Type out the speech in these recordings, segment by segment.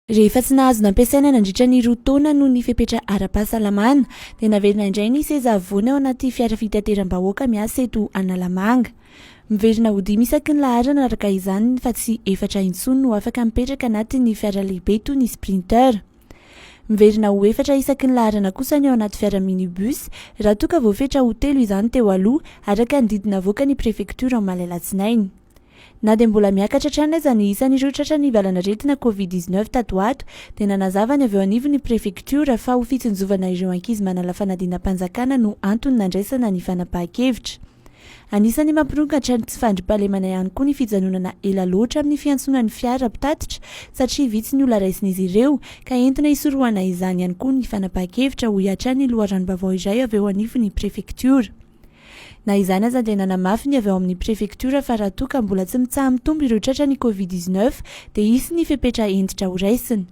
Rehefa tsy nahazo nampiasaina nandritra ny roa taona noho ny fepetra ara-pahasalamana, dia naverina indray ny seza havoana eo anaty fiara fitateram-bahoaka miasa eto Analamanga. Miverina ho dimy isaky ny laharana araka izany fa tsy efatra intsony no afaka mipetraka anatin'ny fiara lehibe toy ny Sprinter. Miverina ho efatra isaky ny laharana kosa ny ao anaty fiara minibus raha toa ka voafetra ho telo izany teo aloha araka ny didy navoakan'ny prefektiora omaly alatsinainy. Na dia mbola miakatra hatrany aza ny isan'ireo tratra nivalan'aretina covid dix neuf tato ho ato, dia nanazava ny avy eo anivon'ny prefektiora fa ho fitsinjovana ireo ankizy manala fanadinam-panjakana no antony nandraisana ny fanapahan-kevitra. Anisan'ny mampirongatra ny tsy fandriampahalemana ihany koa ny fijanonana ela loatra amin'ny fiantsoana ny fiara mpitatitra satria vitsy ny olona raisin'izy ireo ka entina hisorohana izany ihany koa ny fanapahan-kevitra, hoy hatrany ny loharanom-baovao iray avy eo anivon'ny prefektiora. Na izany aza dia nanamafy ny avy ao amin'ny prefektiora fa raha toa ka mbola tsy mitsaha-mitombo ireo tratran'ny Covid dix neuf dia hisy ny fepetra hentitra horaisina.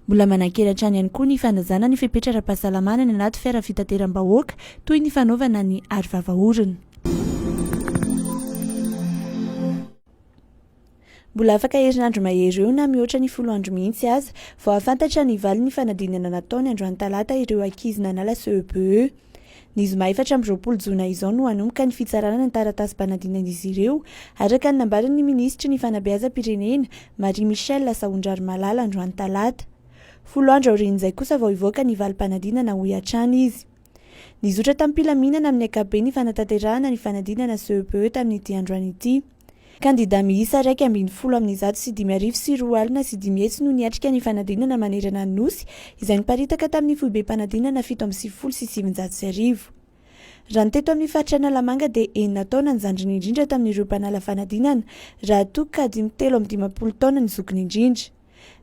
Mbola manankery hatrany ihany koa ny fanajana ny fepetra ara-pahasalamana any anaty fiara fitateram-bahoaka toy ny fanaovana ny aro vava orona. Mbola afaka herinandro mahery eo na mihoatra ny folo andro mihitsy aza vao hahafantatra ny valin'ny fanadinana nataony androany talata ireo ankizy nanala CEPE. Ny zoma efatra amby roapolo jona izao no hanomboka ny fitsarana ny taratasim-panadinan'izy ireo, araka ny nambaran'ny minisitry ny fanabeazam-pirenena, Marie Michelle Sahondrarimalala androany talata. Folo andro aorian'izay kosa vao hivoaka ny valim-panadinana hoy hatrany izy. Nizotra tamim-pilaminana amin'ny ankapobeny ny fanatanterahana ny fanadinana CEPE tamin'ity androany ity. Kandidà miisa iraika ambin'ny folo amin'ny zato sy dimy arivo sy roa alina sy dimy hetsy no niatrika ny fanadinana manerana ny Nosy, izay niparitaka tamin'ny foibem-panadinana fito amby sivifolo sy sivinjato sy arivo. Raha ny teto amin'ny faritra Analamanga dia enina taona ny zandriny indrindra tamin'ireo mpanala fanadinana, raha toa ka dimy telo amby dimampolo taona ny zokiny indrindra.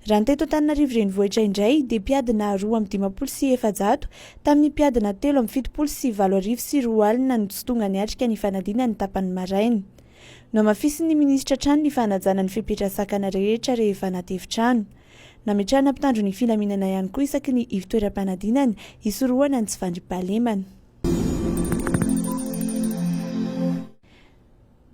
Raha ny teto Antananarivo Renivohitra indray dia mpiadina roa amby dimampolo sy efajato tamin'ny mpiadina telo amby fitopolo sy valo arivo sy roa alina no tsy tonga niatrika ny fanadinana ny tapany maraina. Nohamafisin'ny minisitra hatrany ny fanajana ny fepetra sakana rehetra rehefa anaty efitrano. Nametrahana mpitandro ny filaminana ihany koa isaky ny ivtoeram-panadinana hisorohana ny tsy fandriampahalemana.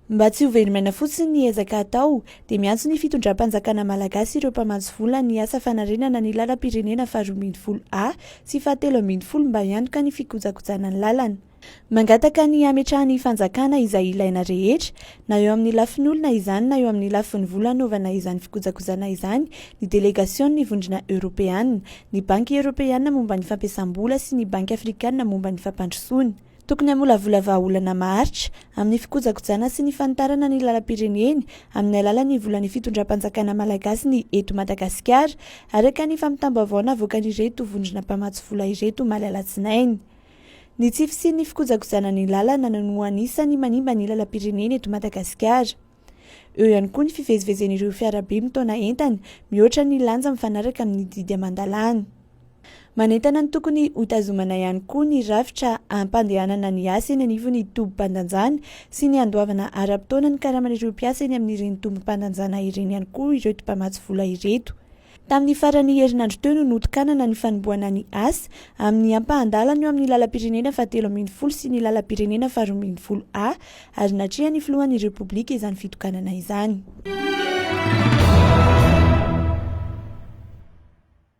Mba tsy ho velom'aina fotsiny ny ezaka atao, dia miantso ny fitondram-panjakana malagasy ireo mpamatsy vola ny asa fanarenana ny lalam-pirenena faharoa ambin'ny folo A sy fahatelo ambin'ny folo mba hianoka ny fikojakojana ny lalana. Mangataka ny hametrahan'ny fanjakana izay ilaina rehetra, na eo amin'ny lafin'olona izany na eo amin'ny lafiny vola hanaovana izany fikojakojana izany, ny delegasion'ny Vondrona Eoropeana, ny Banky Eoropeana momba ny fampiasam-bola sy ny Banky Afrikana momba ny fampandrosoana. Tokony hamolavola vahaolana maharitra amin'ny fikojakojana sy ny fanitarana ny lalam-pireneny amin'ny alalan'ny volan'ny fitondram-panjakana malagasy ny eto Madagasikara, araka ny fampitam-baovao navoakan'ireto vondrona mpamatsy vola ireto omaly alatsinainy. Ny tsy fisian'ny fikojakojana ny lalana no anisan'ny manimba ny lalam-pirenena eto Madagasikara. Eo ihany koa ny fivezivezen'ireo fiarabe mitaona entana, mihoatra ny lanja mifanaraka amin'ny didy aman-dalàna. Manentana ny tokony hotazomana ihany koa ny rafitra ampandehanana ny asa eny anivon'ny tobim-pandanjana sy ny handoavana ara-potoana ny karaman'ireo mpiasa eny amin'ireny tobim-pandanjana ireny ihany koa ireto mpamatsy vola ireto. Tamin'ny faran'ny herinandro teo no notokanana ny fanombohana ny asa amin'ny ampahan-dalana eo amin'ny lalam-pirenena fahatelo ambin'ny folo sy ny lalam-pirenena faharoa ambin'ny folo A ary natrehan'ny filohan'ny Repoblika izany fitokanana izany.